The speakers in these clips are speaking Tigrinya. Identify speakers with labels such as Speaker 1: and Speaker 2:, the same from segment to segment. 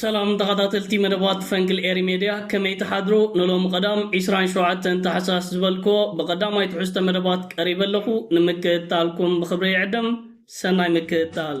Speaker 1: ሰላም ተኻታተልቲ መደባት ፈንግል ኤሪ ሜድያ ከመይ ትሓድሩ ንሎሚ ቀዳም ዒስራን ሸውዓተን ታሕሳስ ዝበልክዎ ብቀዳማይ ትሕዝቶ መደባት ቀሪበ ኣለኹ ንምክእታልኩም ብኽብሪ ይዕድም ሰናይ ምክእታል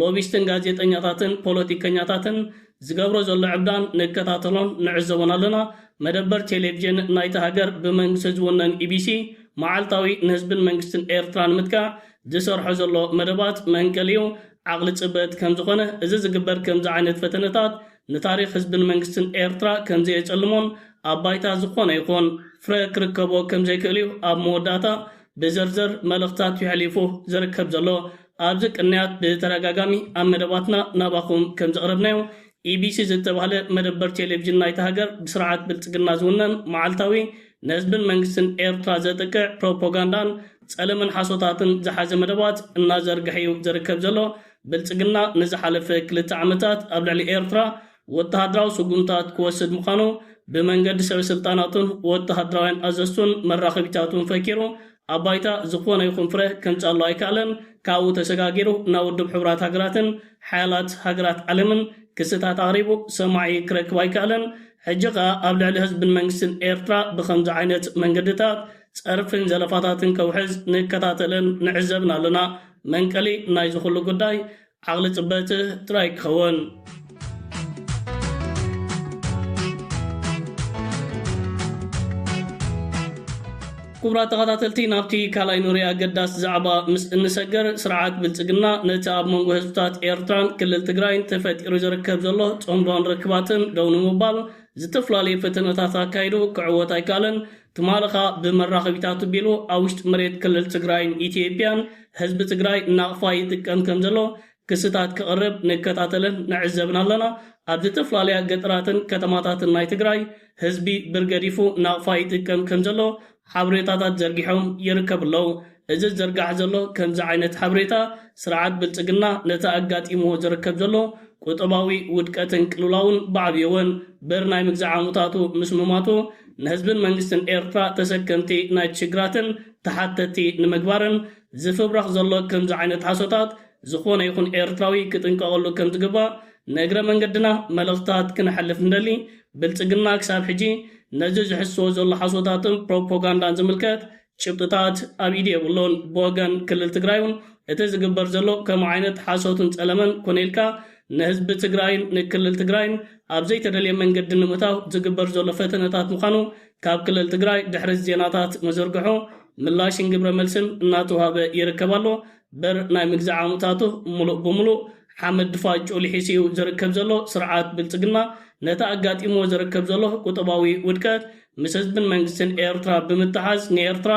Speaker 1: ሎቢስትን ጋዜጠኛታትን ፖለቲከኛታትን ዝገብሮ ዘሎ ዕብዳን ንከታተሎን ንዕዘቦን ኣለና፣ መደበር ቴሌቭዥን ናይታ ሃገር ብመንግስቲ ዝውነን ኢቢሲ መዓልታዊ ንህዝብን መንግስትን ኤርትራ ንምትካእ ዝሰርሖ ዘሎ መደባት መንቀሊኡ ዓቕሊ ጽበት ከምዝኾነ እዚ ዝግበር ከምዚ ዓይነት ፈተነታት ንታሪኽ ህዝብን መንግስትን ኤርትራ ከምዘየጸልሞን ኣብ ባይታ ዝኾነ ይኹን ፍረ ክርከቦ ከምዘይክእልዩ ኣብ መወዳእታ ብዘርዘር መልእኽታት ዩሕሊፉ ዝርከብ ዘሎ። ኣብዚ ቅንያት ብተደጋጋሚ ኣብ መደባትና ናባኹም ከምዘቕረብናዮ፣ ኢቢሲ ዝተባህለ መደበር ቴሌቪዥን ናይታ ሃገር ብስርዓት ብልጽግና ዝውነን መዓልታዊ ንህዝብን መንግስትን ኤርትራ ዘጥቅዕ ፕሮፖጋንዳን ጸለመን ሓሶታትን ዝሓዘ መደባት እናዘርግሐ'ዩ ዝርከብ ዘሎ። ብልጽግና ንዝሓለፈ ክልተ ዓመታት ኣብ ልዕሊ ኤርትራ ወተሃደራዊ ስጉምትታት ክወስድ ምዃኑ ብመንገዲ ሰበስልጣናቱን ወተሃደራውያን ኣዘዝቱን መራኸቢታቱን ፈኪሩ ኣብ ባይታ ዝኾነ ይኹን ፍረ ከምጽኣሉ ኣይከኣለን፣ ካብኡ ተሰጋጊሩ ናብ ውድብ ሕቡራት ሃገራትን ሓያላት ሃገራት ዓለምን ክስታት ኣቕሪቡ ሰማዒ ክረክብ ኣይከኣለን፣ ሕጂ ከኣ ኣብ ልዕሊ ህዝብን መንግስትን ኤርትራ ብኸምዚ ዓይነት መንገድታት ጸርፍን ዘለፋታትን ከውሕዝ ንከታተልን ንዕዘብን ኣለና፣ መንቀሊ ናይዚ ኩሉ ጉዳይ ዓቕሊ ጽበጽ ጥራይ ክኸውን። ክቡራት ተኸታተልቲ ናብቲ ካልኣይ ኑሪ ኣገዳሲ ዛዕባ ምስ እንሰገር ስርዓት ብልጽግና ነቲ ኣብ መንጎ ህዝብታት ኤርትራን ክልል ትግራይን ተፈጢሩ ዝርከብ ዘሎ ጸምቧን ርክባትን ደው ንምባል ዝተፈላለዩ ፈተነታት ኣካይዱ ክዕወት ኣይከኣለን። ትማሊ ከኣ ብመራኸቢታት ኣቢሉ ኣብ ውሽጢ መሬት ክልል ትግራይን ኢትዮጵያን ህዝቢ ትግራይ ናቕፋ ይጥቀም ከምዘሎ ክስታት ከቕርብ ንከታተልን ንዕዘብን ኣለና። ኣብ ዝተፍላለያ ገጠራትን ከተማታትን ናይ ትግራይ ህዝቢ ብር ገዲፉ ናቕፋ ይጥቀም ከምዘሎ ሓብሬታታት ዘርጊሖም ይርከቡ ኣለው። እዚ ዝዝርጋሕ ዘሎ ከምዚ ዓይነት ሓብሬታ ስርዓት ብልጽግና ነቲ ኣጋጢምዎ ዝርከብ ዘሎ ቁጠባዊ ውድቀትን ቅልውላውን ብዓብዩ ወን በር ናይ ምግዛእ ዓሙታቱ ምስ ምሟቱ ንህዝብን መንግስትን ኤርትራ ተሰከምቲ ናይቲ ሽግራትን ተሓተቲ ንምግባርን ዝፍብረኽ ዘሎ ከምዚ ዓይነት ሓሶታት ዝኾነ ይኹን ኤርትራዊ ክጥንቀቐሉ ከም ዝግባእ ንእግረ መንገድና መልእኽታት ክነሕልፍ ንደሊ። ብልጽግና ክሳብ ሕጂ ነዚ ዝሕስሶ ዘሎ ሓሶታትን ፕሮፖጋንዳን ዝምልከት ጭብጥታት ኣብ ኢድ የብሉን። ብወገን ክልል ትግራይ ውን እቲ ዝግበር ዘሎ ከምኡ ዓይነት ሓሶትን ፀለመን ኮነ ኢልካ ንህዝቢ ትግራይን ንክልል ትግራይን ኣብ ዘይተደልየ መንገዲ ንምእታው ዝግበር ዘሎ ፈተነታት ምዃኑ ካብ ክልል ትግራይ ድሕሪ እዚ ዜናታት ምዝርግሑ ምላሽን ግብረ መልስን እናተውሃበ ይርከብ ኣሎ። በር ናይ ምግዛዕ ዓሙታቱ ሙሉእ ብሙሉእ ሓመድ ድፋጭኡ ልሒሱ እዩ ዝርከብ ዘሎ ስርዓት ብልጽግና፣ ነቲ ኣጋጢምዎ ዝርከብ ዘሎ ቁጠባዊ ውድቀት ምስ ህዝብን መንግስትን ኤርትራ ብምትሓዝ ንኤርትራ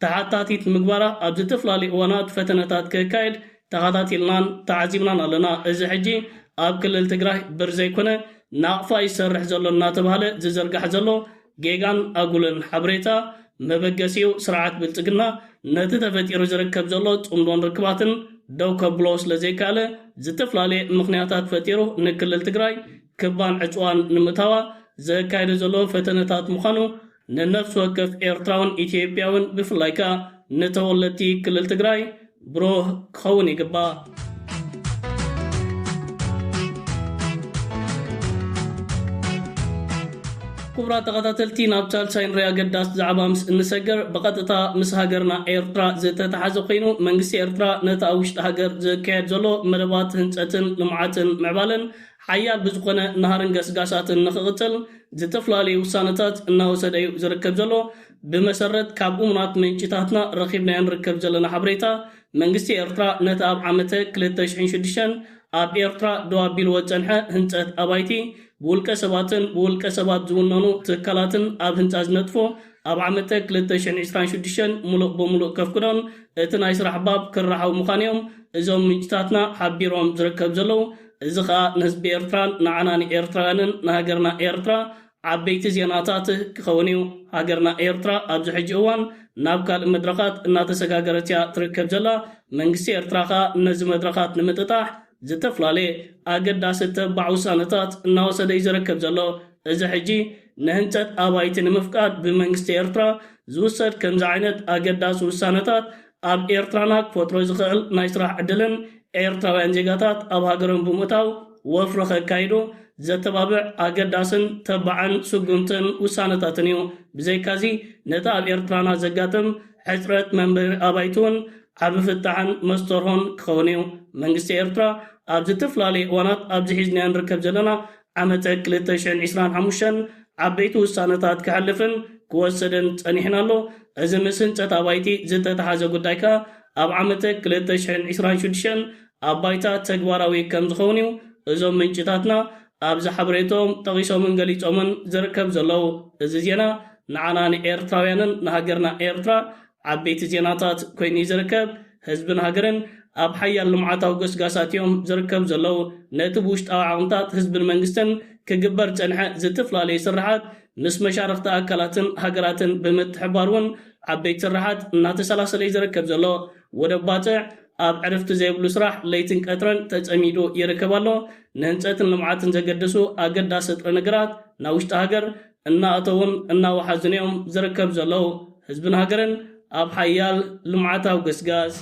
Speaker 1: ተሓታቲት ንምግባራ ኣብ ዘተፈላለዩ እዋናት ፈተነታት ከካይድ ተኻታቲልናን ተዓዚብናን ኣለና። እዚ ሕጂ ኣብ ክልል ትግራይ ብር ዘይኮነ ናቕፋ እዩ ዝሰርሕ ዘሎ እናተባህለ ዝዝርጋሕ ዘሎ ጌጋን ኣጉልን ሓብሬታ መበገሲኡ ስርዓት ብልጽግና ነቲ ተፈጢሩ ዝርከብ ዘሎ ጽምዶን ርክባትን ደው ከብሎ ስለ ዘይካኣለ ዝተፍላለየ ምኽንያታት ፈጢሩ ንክልል ትግራይ ክባን ዕጽዋን ንምእታዋ ዘካይዶ ዘሎ ፈተነታት ምዃኑ ንነፍሲ ወከፍ ኤርትራውን ኢትዮጵያውን ብፍላይ ከኣ ንተወለድቲ ክልል ትግራይ ብሩህ ክኸውን ይግባእ። ክቡራት ተኸታተልቲ ናብ ቻልቻይ ንሪኣ ኣገዳስ ዛዕባ ምስ እንሰገር ብቐጥታ ምስ ሃገርና ኤርትራ ዝተተሓዘ ኮይኑ መንግስቲ ኤርትራ ነቲ ኣብ ውሽጢ ሃገር ዝካየድ ዘሎ መደባት ህንፀትን ልምዓትን ምዕባለን ሓያል ብዝኾነ ናህርን ገስጋሳትን ንክቕፅል ዝተፈላለዩ ውሳነታት እናወሰደ እዩ ዝርከብ ዘሎ ብመሰረት ካብ እሙናት ምንጭታትና ረኺብናዮ ንርከብ ዘለና ሓበሬታ፣ መንግስቲ ኤርትራ ነቲ ኣብ ዓመተ ክልተ ሽሕን ሽዱሽተን ኣብ ኤርትራ ደው ኣቢልዎ ዝጸንሐ ህንጸት ኣባይቲ ብውልቀ ሰባትን ብውልቀ ሰባት ዝውነኑ ትካላትን ኣብ ህንጻ ዝነጥፉ ኣብ ዓመተ ክልተ ሽሕን ዕስራን ሽዱሽተን ምሉእ ብምሉእ ከፍቅዶን እቲ ናይ ስራሕ ባብ ክራሓው ምዃኑ'ዮም እዞም ምንጭታትና ሓቢሮም ዝርከብ ዘለዉ። እዚ ከኣ ንህዝቢ ኤርትራን ንዓና ንኤርትራውያንን ንሃገርና ኤርትራ ዓበይቲ ዜናታት ክኸውን እዩ። ሃገርና ኤርትራ ኣብዚ ሕጂ እዋን ናብ ካልእ መድረኻት እናተሰጋገረት እያ ትርከብ ዘላ። መንግስቲ ኤርትራ ከኣ ነዚ መድረኻት ንምጥጣሕ ዝተፍላለየ ኣገዳሲ ተባዕ ውሳነታት እናወሰደ እዩ ዝርከብ ዘሎ። እዚ ሕጂ ንህንጸት ኣባይቲ ንምፍቃድ ብመንግስቲ ኤርትራ ዝውሰድ ከምዚ ዓይነት ኣገዳሲ ውሳነታት ኣብ ኤርትራና ክፈጥሮ ዝኸእል ናይ ስራሕ ዕድልን ኤርትራውያን ዜጋታት ኣብ ሃገሮም ብምእታው ወፍሪ ከካይዱ ዘተባብዕ ኣገዳስን ተባዕን ስጉምትን ውሳነታትን እዩ። ብዘይካዚ ነቲ ኣብ ኤርትራና ዘጋጥም ሕጽረት መንበሪ ኣባይቲ'ውን ዓቢ ፍታሕን መስተርሆን ክኸውን እዩ። መንግስቲ ኤርትራ ኣብ ዝትፍላለየ እዋናት ኣብዚ ሒዝናዮ ንርከብ ዘለና ዓመተ ክልተ ሽሕን ዒስራን ሓሙሽተን ዓበይቲ ውሳነታት ከሕልፍን ክወሰድን ጸኒሕን ኣሎ። እዚ ምስ ህንጸት ኣባይቲ ዝተተሓዘ ጉዳይ ከኣ ኣብ ዓመተ ክልተ ሽሕን ዒስራን ሽዱሽተን ኣብ ባይታ ተግባራዊ ከም ዝኸውን እዩ እዞም ምንጭታትና ኣብዚ ሓበሬትኦም ጠቒሶምን ገሊጾምን ዝርከብ ዘለዉ። እዚ ዜና ንዓና ንኤርትራውያንን ንሃገርና ኤርትራ ዓበይቲ ዜናታት ኮይኑ እዩ ዝርከብ። ህዝብን ሃገርን ኣብ ሓያል ልምዓታዊ ጎስጋሳት እዮም ዝርከቡ ዘለዉ። ነቲ ብውሽጣዊ ዓቕምታት ህዝብን መንግስትን ክግበር ዝጸንሐ ዝትፍላለዩ ስርሓት ምስ መሻርኽቲ ኣካላትን ሃገራትን ብምትሕብባር እውን ዓበይቲ ስርሓት እናተሰላሰለ እዩ ዝርከብ ዘሎ። ወደብ ባጽዕ ኣብ ዕርፍቲ ዘይብሉ ስራሕ ለይትን ቀትርን ተጸሚዱ ይርክብ ኣሎ። ንህንጸትን ልምዓትን ዘገድሱ ኣገዳሲ ጥረ ነገራት ናብ ውሽጢ ሃገር እናኣተዉን እናወሓዙን'ዮም ዝርከብ ዘለዉ። ህዝብን ሃገርን ኣብ ሓያል ልምዓታዊ ግስጋስ።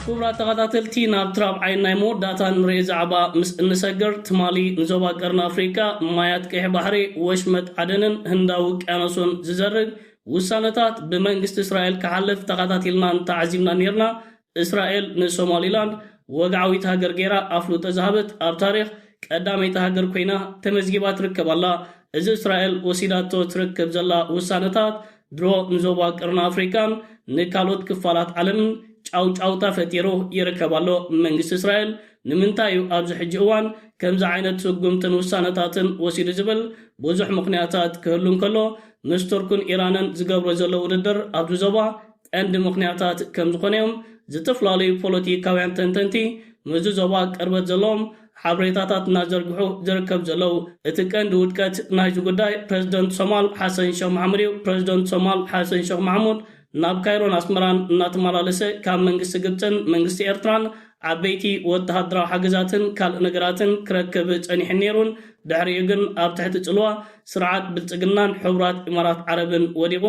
Speaker 1: ክቡራት ተኻታተልቲ ናብቲ ራብዓይን ናይ መወዳእታን ንርኤ ዛዕባ ምስ እንሰግር ትማሊ ንዞባ ቀርኒ ኣፍሪቃ ማያት ቀይሕ ባሕሪ ወሽመጥ ዓደንን ህንዳዊ ውቅያኖሱን ዝዘርግ ውሳነታት ብመንግስቲ እስራኤል ክሓልፍ ተኻታቲልናን ተዓዚብናን ኔርና እስራኤል ንሶማሊላንድ ወግዓዊት ሃገር ገይራ ኣፍልጦ ዝሃበት ኣብ ታሪኽ ቀዳመይቲ ሃገር ኮይና ተመዝጊባ ትርከብ ኣላ። እዚ እስራኤል ወሲዳቶ ትርከብ ዘላ ውሳነታት ድሮ ንዞባ ቀርኒ ኣፍሪቃን ንካልኦት ክፋላት ዓለምን ጫውጫውታ ፈጢሩ ይርከብ ኣሎ። መንግስቲ እስራኤል ንምንታይ እዩ ኣብዚ ሕጂ እዋን ከምዚ ዓይነት ስጉምትን ውሳነታትን ወሲዱ ዝብል ብዙሕ ምኽንያታት ክህሉ እንከሎ ምስ ቱርክን ኢራንን ዝገብሮ ዘሎ ውድድር ኣብዚ ዞባ ቀንዲ ምኽንያታት ከምዝኾነ'ዮም ዝተፈላለዩ ፖለቲካውያን ተንተንቲ ምስዚ ዞባ ቅርበት ዘለዎም ሓበሬታታት እናዘርግሑ ዝርከብ ዘለው። እቲ ቀንዲ ውድቀት ናይዚ ጉዳይ ፕረዚደንት ሶማል ሓሰን ሸኽ ማሕሙድ'ዩ። ፕረዚደንት ሶማል ሓሰን ሸኽ ማሕሙድ ናብ ካይሮን ኣስመራን እናተመላለሰ ካብ መንግስቲ ግብጽን መንግስቲ ኤርትራን ዓበይቲ ወተሃደራዊ ሓገዛትን ካልእ ነገራትን ክረክብ ጸኒሑን ነይሩን ድሕሪኡ ግን ኣብ ትሕቲ ጽልዋ ስርዓት ብልጽግናን ሕቡራት ኢማራት ዓረብን ወዲቑ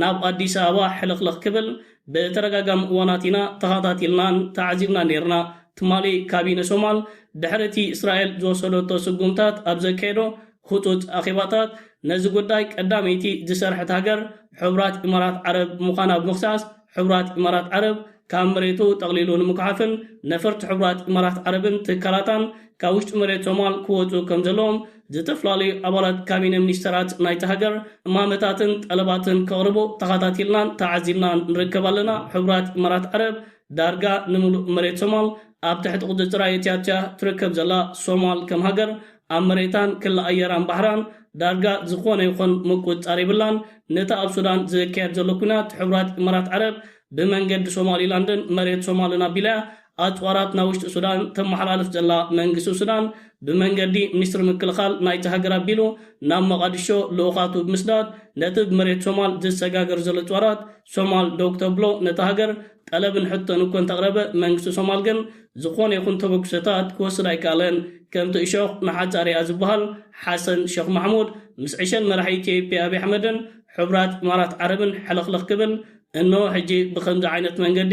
Speaker 1: ናብ ኣዲስ ኣበባ ሕልኽልኽ ክብል ብተደጋጋሚ እዋናት ኢና ተኻታቲልናን ተዓዚብናን ነይርና። ትማሊ ካቢነ ሶማል ድሕሪ እቲ እስራኤል ዝወሰደቶ ስጉምታት ኣብ ዘካየዶ ህጹጽ ኣኼባታት ነዚ ጉዳይ ቀዳመይቲ ዝሰርሐት ሃገር ሕቡራት ኢማራት ዓረብ ምዃና ብምኽሳስ ሕቡራት ኢማራት ዓረብ ካብ መሬቱ ጠቕሊሉ ንምጉሓፍን ነፈርቲ ሕቡራት ኢማራት ዓረብን ትካላታን ካብ ውሽጢ መሬት ሶማል ክወጹ ከምዘለዎም ዝተፈላለዩ ኣባላት ካቢነ ሚኒስተራት ናይታ ሃገር እማመታትን ጠለባትን ከቕርቡ ተኻታቲልናን ተዓዚብናን ንርከብ ኣለና። ሕቡራት ኢማራት ዓረብ ዳርጋ ንምሉእ መሬት ሶማል ኣብ ትሕቲ ቁጽጽራ የእትያቶ'ያ ትርከብ ዘላ። ሶማል ከም ሃገር ኣብ መሬታን ክሊ ኣየራን ባሕራን ዳርጋ ዝኾነ ይኹን ምቁጽጻር የብላን። ነቲ ኣብ ሱዳን ዝካየድ ዘሎ ኲናት ሕቡራት ኢማራት ዓረብ ብመንገዲ ሶማሊላንድን መሬት ሶማልን ኣቢላ'ያ ኣጽዋራት ናብ ውሽጢ ሱዳን ተመሓላልፍ ዘላ መንግስቲ ሱዳን፣ ብመንገዲ ሚኒስትሪ ምክልኻል ናይታ ሃገር ኣቢሉ ናብ መቓድሾ ልኡኻቱ ብምስዳድ፣ ነቲ ብ መሬት ሶማል ዝሰጋገር ዘሎ ኣጽዋራት ሶማል ደው ክተብሎ ነታ ሃገር ጠለብን ሕቶን እኮ እንተቕረበ፣ መንግስቲ ሶማል ግን ዝኾነ ይኹን ተበግሶታት ክወስድ ኣይከኣለን። ከምቲ እሾኽ ንሓጻ ርኣ ዝበሃል፣ ሓሰን ሸኽ ማሕሙድ ምስ ዕሸል መራሒ ኢትዮጵያ ኣብይ ኣሕመድን ሕቡራት ኢማራት ዓረብን ሕልኽልኽ ክብል፣ እነሆ ሕጂ ብኸምዚ ዓይነት መንገዲ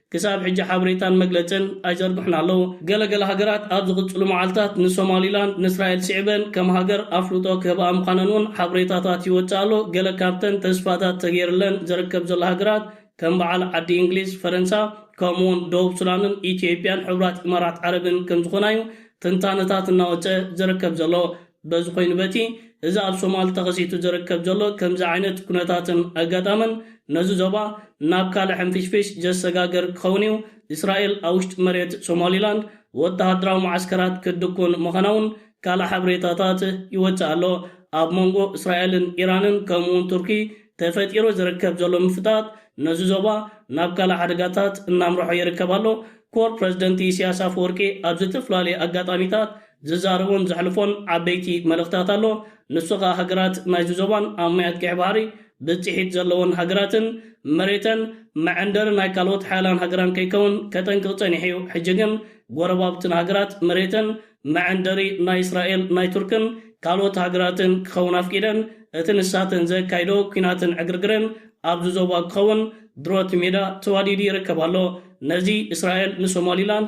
Speaker 1: ክሳብ ሕጂ ሓበሬታን መግለጽን ኣይዘርግሑን ኣለዉ። ገለ ገለ ሃገራት ኣብ ዝቕጽሉ መዓልታት ንሶማሊላንድ ንእስራኤል ስዒበን ከም ሃገር ኣፍልጦ ክህብኣ ምዃነን እውን ሓበሬታታት ይወጽእ ኣሎ። ገለ ካብተን ተስፋታት ተገይርለን ዝርከብ ዘሎ ሃገራት ከም በዓል ዓዲ እንግሊዝ፣ ፈረንሳ፣ ከምኡ'ውን ደቡብ ሱዳንን ኢትዮጵያን ሕቡራት ኢማራት ዓረብን ከም ዝኾና እዩ ትንታነታት እናወጸ ዝርከብ ዘሎ። በዚ ኮይኑ በቲ እዚ ኣብ ሶማል ተኸሲቱ ዝርከብ ዘሎ ከምዚ ዓይነት ኩነታትን ኣጋጣምን ነዚ ዞባ ናብ ካልእ ሕንፍሽፍሽ ዘሰጋግር ክኸውን እዩ፣ እስራኤል ኣብ ውሽጢ መሬት ሶማሊላንድ ወተሃደራዊ መዓስከራት ክትድኩን ምዃና'ውን ካልእ ሓበሬታታት ይወጽእ ኣሎ። ኣብ መንጎ እስራኤልን ኢራንን ከምኡ'ውን ቱርኪ ተፈጢሩ ዝርከብ ዘሎ ምፍጣጥ ነዚ ዞባ ናብ ካልእ ሓደጋታት እናምርሖ ይርከብ ኣሎ፣ ኮር ፕረዚደንት ኢሲያስ ኣፈወርቂ ኣብ ዝተፈላለዩ ኣጋጣሚታት ዝዛረቦን ዘሕልፎን ዓበይቲ መልእኽታት ኣሎ። ንሱ ከኣ ሃገራት ናይዚ ዞባን ኣብ ማያት ቀይሕ ባሕሪ ብጺሒት ዘለወን ሃገራትን መሬተን መዐንደሪ ናይ ካልኦት ሓያላን ሃገራን ከይከውን ከጠንቅቕ ጸኒሑ'ዩ። ሕጂ ግን ጎረባብትና ሃገራት መሬተን መዐንደሪ ናይ እስራኤል ናይ ቱርክን ካልኦት ሃገራትን ክኸውን ኣፍቂደን እቲ ንሳተን ዘካይድኦ ኲናትን ዕግርግርን ኣብዚ ዞባ ክኸውን ድሮት ሜዳ ተዋዲዱ ይርከብ ኣሎ። ነዚ እስራኤል ንሶማሊላንድ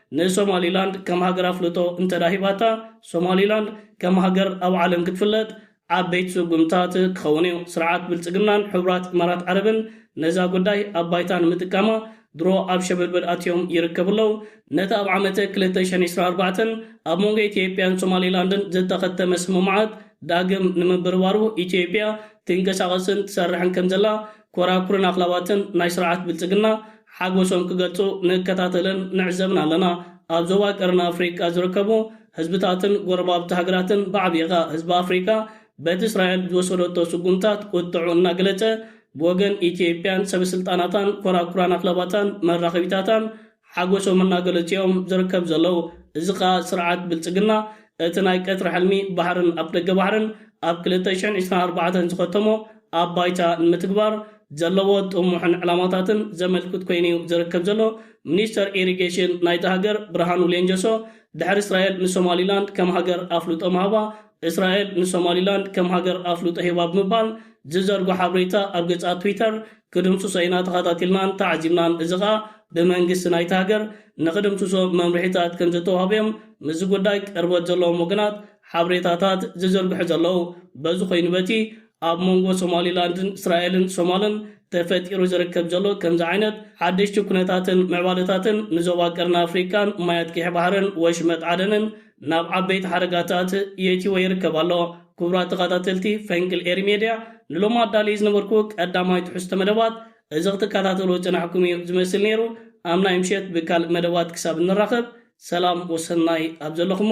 Speaker 1: ንሶማሊላንድ ከም ሃገር ኣፍልጦ እንተድኣ ሂባታ፣ ሶማሊላንድ ከም ሃገር ኣብ ዓለም ክትፍለጥ ዓበይቲ ስጉምትታት ክኸውን'ዩ። ስርዓት ብልጽግናን ሕቡራት ኢማራት ዓረብን ነዛ ጉዳይ ኣብ ባይታ ንምጥቃማ ድሮ ኣብ ሸበድበድ ኣትዮም ይርከቡ ኣለዉ። ነቲ ኣብ ዓመተ ክልተ ሽሕን ዕስራን ኣርባዕተን ኣብ መንጎ ኢትዮጵያን ሶማሊላንድን ዝተኸተመ ስምምዓት ዳግም ንምብርባሩ ኢትዮጵያ ትንቀሳቐስን ትሰርሕን ከምዘላ ኮራኩርን ኣኽላባትን ናይ ስርዓት ብልጽግና ሓጎሶም ክገልጹ ንከታተልን ንዕዘብን ኣለና። ኣብ ዞባ ቀርኒ ኣፍሪቃ ዝርከቡ ህዝብታትን ጎረባብቲ ሃገራትን ብዓቢኡ ከኣ ህዝቢ ኣፍሪቃ በቲ እስራኤል ዝወሰደቶ ስጉምታት ቁጥዕኡ እናገለጸ ብወገን ኢትዮጵያን ሰበስልጣናታን ኮራኩራን ኣኽላባታን መራኸቢታታን ሓጎሶም እናገለጹ'ዮም ዝርከብ ዘለዉ። እዚ ከኣ ስርዓት ብልጽግና እቲ ናይ ቀትሪ ሕልሚ ባሕርን ኣፍደገ ባሕርን ኣብ ክልተ ሽሕን ዕስራን ኣርባዕተን ዝኸተሞ ኣብ ባይታ ንምትግባር ዘለዎ ጥሙሕን ዕላማታትን ዘመልክት ኮይኑ'ዩ ዝርከብ ዘሎ ሚኒስተር ኢሪጌሽን ናይታ ሃገር ብርሃኑ ሌንጆሶ ድሕሪ እስራኤል ንሶማሊላንድ ከም ሃገር ኣፍልጦ ምሃባ እስራኤል ንሶማሊላንድ ከም ሃገር ኣፍልጦ ሂባ ብምባል ዝዘርጎ ሓብሬታ ኣብ ገጻ ትዊተር ክድምስሶ ኢና ተኻታቲልናን ተዓዚብናን እዚ ከኣ ብመንግስቲ ናይቲ ሃገር ንኽድምስሶ መምርሒታት ከምዘተዋህበዮም ምስዚ ጉዳይ ቅርበት ዘለዎም ወገናት ሓብሬታታት ዝዝርግሑ ዘለዉ በዚ ኮይኑ በቲ ኣብ መንጎ ሶማሊላንድን እስራኤልን ሶማልን ተፈጢሩ ዝርከብ ዘሎ ከምዚ ዓይነት ሓደሽቲ ኩነታትን ምዕባለታትን ንዞባ ቀርኒ ኣፍሪቃን ማያት ቂሒ ባሕርን ወሽመጥ ዓደንን ናብ ዓበይቲ ሓደጋታት የእቲዎ ይርከብ ኣሎ። ክቡራት ተኻታተልቲ ፈንቅል ኤሪ ሜድያ ንሎሚ ኣዳልየ ዝነበርኩ ቀዳማይ ትሕዝቶ መደባት እዚ ክትካታተልዎ ዝጸናሕኩም እዩ ዝመስል ነይሩ። ኣብ ናይ ምሸት ብካልእ መደባት ክሳብ እንራኸብ ሰላም ወሰናይ ኣብ ዘለኹሞ